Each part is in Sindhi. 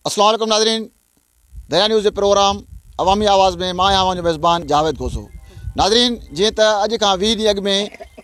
السلام عليڪم ناظرين دريا نيوز جي پروگرام عوامي آواز ۾ مان آهيان اوهان جو ميزبان جاويد کوسو ناظرين جيئن ته اڄ کان 20 ڏينهن اڳ ۾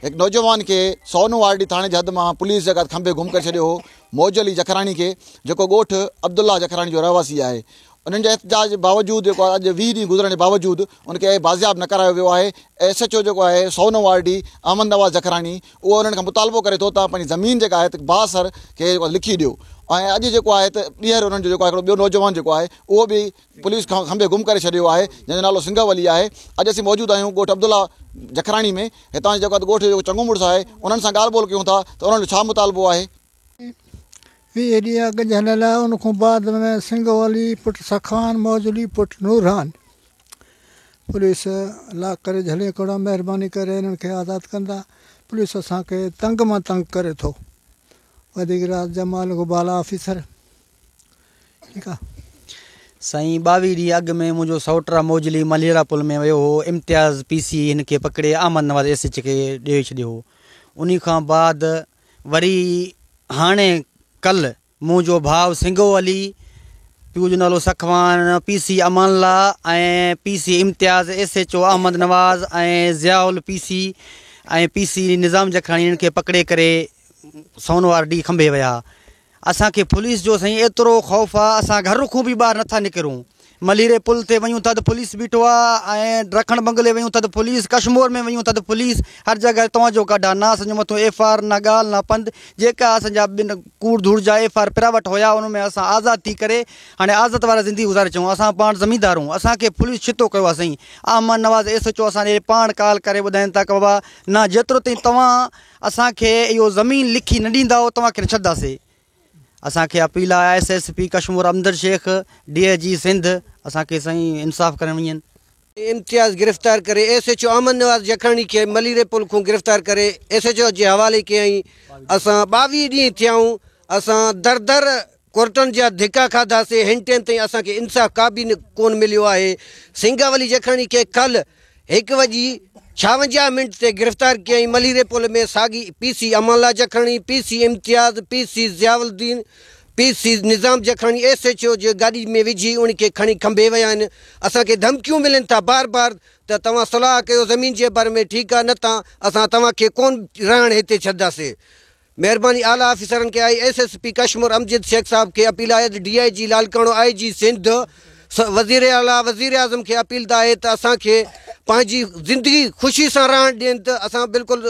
هڪ نوجوان کي سونو آرڊي ٿاڻي جي حد مان پوليس جي ڪات کنڀي گم ڪري ڇڏيو هو موج علي جکراڻي کي جيڪو ڳوٺ عبدالله جکراڻي جو رهواسي آهي انهن جي احتجاج جي باوجود جيڪو اڄ ويهه ڏينهن گذرڻ جي باوجود ان کي بازياب نه ڪرايو ويو آهي ايس ايچ او جيڪو آهي سونو آر ڊي احمد نواز جکراڻي اهو انهن کان مطالبو ڪري ٿو ته پنهنجي زمين جيڪا آهي ته باز سر کي جيڪو آهي لکي ڏيو ۽ اڄ جيڪو آهي ته ٻيهر انهن جو جيڪو آهي هڪڙو ٻيو نوجوان جيڪو آهي اهو به پوليس کان کنڀي گم ڪري ڇڏيو آهي جنهن جو نالو سنگهه ولي آهي اڄ اسين موجود آهيون ڳوٺ عبدالله جکراڻي ۾ هتان جيڪو آهي ڳوٺ جو چڱو مڙس آهي انهن سان ڳالهه ٻولهه ڪيون ٿا ته انهن جو ڇا مطالبو آهي. ويهه ڏينهن اڳ جنهن لاء ان کان بعد ۾ سنگهه ولي پٽ سخان موجلي پٽ نورهان. پوليس لا ڪري جهلين ڪوڙا مهرباني ڪري هنن کي آزاد ڪندا پوليس اسان کي تنگ مان تنگ ڪري ٿو وڌيڪ راز جمال کو بالا آفيسر ٺيڪ آ سائين ٻاويهه ڏينهن اڳ ۾ منهنجو سوٽ را موجلي ملهيرا پل ۾ ويو هو امتياز پي سي هن کي پڪڙي احمد نواز ايس ايچ کي ڏيئي ڇڏيو هو انهي کان بعد وري هاڻي ڪل مون جو ڀاء سنگهو علي، پيء جو نالو سخوان، پي سي امان الله ۽ P C Imtiaz, S H O Ahmed Nawaz ۽ Zia الپي C ۽ P C Nizam Jakhrani هنن کي پڪڙي ڪري سون وار ڏينهن کنڀي ويا. اسان کي پوليس جو سائين ايترو خوف آ اسان گهر کون به ٻاهر نٿا نڪرون. مليري پل تي ويون تھ پوليس بيٺو آ ۽ رکڻ بنگلي ويون تھ پوليس ڪشمور ۾ ويون تھ پوليس ھر جڳھه توھان جو ڪاڍا ناس اسان جي مٿو ايف آء آر نھ ڳالھ نھ پند جيڪا اسان جا ٻن ڪوڙ ڌوڙ جا ايف آء آر پھريان وٽ ھيا انھن ۾ اسان آزاد ٿي ڪري ھاڻي آزت وارا زندگي گذاري چون اسان پاڻ زميندار ھون اسان کي پوليس ڇتو ڪيو آ سائين Ahmed Nawaz S H O اسان ڏي پاڻ ڪال ڪري ٻڌائين تھ بابا نھ جيترو تائين توھان اسان کي اھو زمين لکي نھ ڏينداؤ توھان کي نھ ڇڏداسي. اسان کي اپيل آهي S S P Kashmore Imdad Shaikh D I G Sindh اسان کي سائين انصاف ڪرڻ وڃين. امتياز گرفتار ڪري S H O Ahmed Nawaz Jakhani کي مليري پل کون گرفتار ڪري ايس ايچ او جي حوالي ڪيائين اسان ٻاويهه ڏينهن ٿيائون اسان در در ڪورٽن جا ڌڪا کاڌاسي هن ٽيم تائين اسان کي انصاف ڪابه ڪون مليو آهي سنگاولي جکاڻي کي ڪلهه هڪ وڄي ڇاونجاهه منٽ تي گرفتار ڪيائين مليري پل ۾ ساڳي پي سي امان الله جکاڻي P C Imtiaz P C Ziauddin P C Nizam جکاڻي S H O جي گاڏي ۾ وجهي ان کي کڻي کنڀي ويا آهن اسان کي ڌمڪيون ملن ٿا بار بار ته توهان صلاح ڪيو زمين جي باري ۾ ٺيڪ آهي نه ته اسان توهان کي ڪون رهڻ هتي ڇڏداسين مهرباني اعليٰ آفيسرن کي آئي S S P Kashmore Amjad Shaikh صاحب کي اپيل آهي ته ڊي آئي جي لالڪاڻو آئي جي سنڌ وزير اعليٰ وزير اعظم کي اپيل ته آهي ته اسان کي پنهنجي زندگي خوشي سان رهڻ ڏين ته اسان بلڪل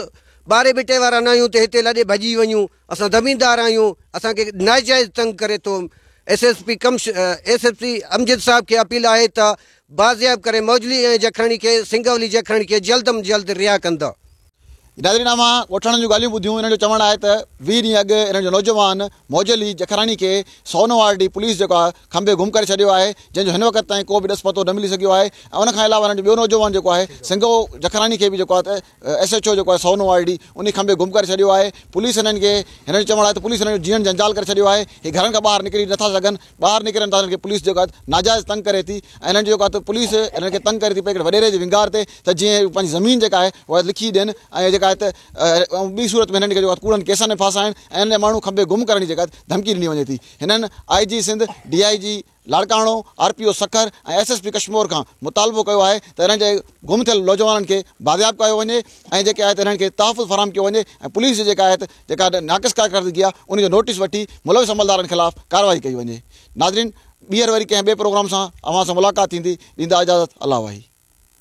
ٻاري ٻٽي وارا نه آهيون ته هتي لڏي ڀڄي وڃون اسان زميندار آهيون اسان کي ناجائز تنگ ڪري ٿو ايس ايس پي ڪمش ايس ايس پي امجد صاحب کي اپيل آهي ته بازياب ڪري موجلي ۽ جکرڻي کي سنگولي جکرڻي کي جلد م جلد رها ڪندا. ناظرين اوهان ڳوٺاڻن جون ڳالهيون ٻڌيون انهن جو چوڻ آهي ته ويهه ڏينهن اڳ انهن جو نوجوان موجه علي جکراڻي کي سونو آر ڊي پوليس جيڪو آهي کنڀي گم ڪري ڇڏيو آهي جنهن جو هن وقت تائين ڪو به ڏس پتو نه ملي سگهيو آهي ۽ ان کان علاوه انهن جو ٻيو نوجوان جيڪو آهي سنگهو جکراڻي کي به جيڪو آهي ايس ايڇ او جيڪو آهي سونو آر ڊي انهي کنڀي گم ڪري ڇڏيو آهي پوليس انهن کي هنن جو چوڻ آهي ته پوليس انهن جو جيئڻ جنجال ڪري ڇڏيو آهي هي گهرن کان ٻاهر نڪري نٿا سگهن ٻاهر نڪرن ٿا انهن کي پوليس جيڪو آهي ناجائز تنگ ڪري ٿي ۽ انهن جو جيڪو آهي پوليس انهن کي تنگ ڪري ٿي پئي هڪڙي وڏيري جي ونگار تي ته جيئن هي پنهنجي زمين جيڪا آهي اها لکي ڏين ۽ جيڪا آهي ته ٻي صورت ۾ هنن کي جيڪو آهي ڪوڙن ڪيسن ۾ ڦاسائين ۽ انهن جا ماڻهو کنڀي گم ڪرڻ جي جيڪا آهي ڌمڪي ڏني وڃي ٿي هنن I G Sindh D I G Larkana R P O Sukkur ۽ S S P Kashmore کان مطالبو ڪيو آهي ته انهن جي گم ٿيل نوجوانن کي بازياب ڪيو وڃي ۽ جيڪي آهي ته انهن کي تحفظ فراهم ڪيو وڃي ۽ پوليس جي جيڪا آهي ته جيڪا ناقص ڪارڪردگي آهي ان جو نوٽيس وٺي ملوث عملدارن خلاف ڪارروائي ڪئي وڃي ناظرين ٻيهر وري ڪنهن ٻئي پروگرام سان اوهان سان ملاقات ٿيندي ڏيندا اجازت الله واهي.